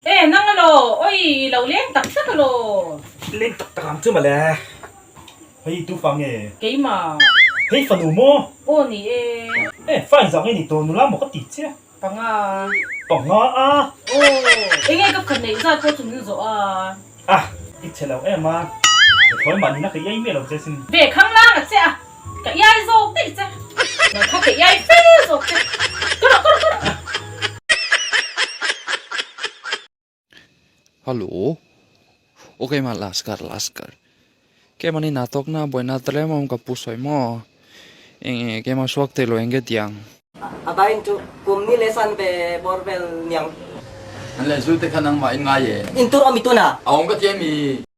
He nang a law awi i lo leng tak tak a law. Leng tak tak ang chu male. Hei tu fa nge. Keimah. Hei fa nu maw. Aw ni e. He fa in zah nge ni tawh nu lam maw ka ti che. Panga. Panga a. Aw. Enge ka phat neih zat pawh chum in zawh a. A. I che lo em a. Thawimanin a kei ei miah lo che sin. Ve khang lang a che a. Ka iai zawk daih che. Ka kha ka iai fel zawk che. Ka rawh, ka rawh, ka rawh. Hallo. Aw ka ima last car, last car. Ka ema nina tawkna buaina ata lem awm ka pu sawi maw? Eng eng e ka ema suak theilo enge tiang. A vain chu kum ni leh san ve bawr vel niang. An leh zute kha nangmah in ngai e. In tur awm i tuna. A awm ka ti em i.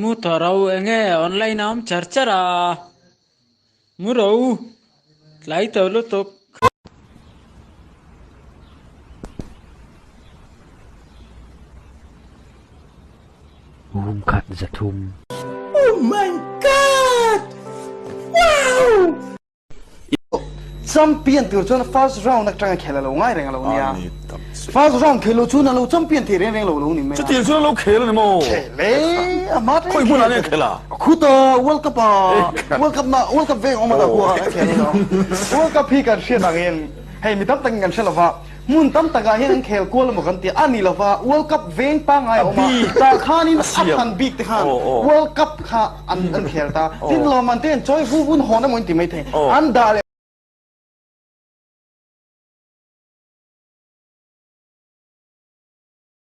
Muta ro enge online awm char char a mu ro tlai to lutuk. Room khat za thum. Oh my god! Wow! I pawh champion tur chuan first round atanga khel a lo ngai reng a lo nia. First round khel lo chu na lo champion thei reng reng lo lo ni mai a. Chutiang chuan a lo khel a ni maw? Khel e, a hma teh khel. Khawi hmunah nge an khel a? Khuta world cup a, world cup na, world cup veng awm ata khuaah an khel a ni maw? World cup hi kan hriat ang in hei mi tam takin kan hre lova. Hmun tam tak ah hian an khel kual emaw kan tia a ni lova world cup veng pangngai a awm a tah khan in a than bik te khan world cup kha an an khel ta tin a lawmman te hian chawi vu vun hawn emaw in ti maithei an dah leh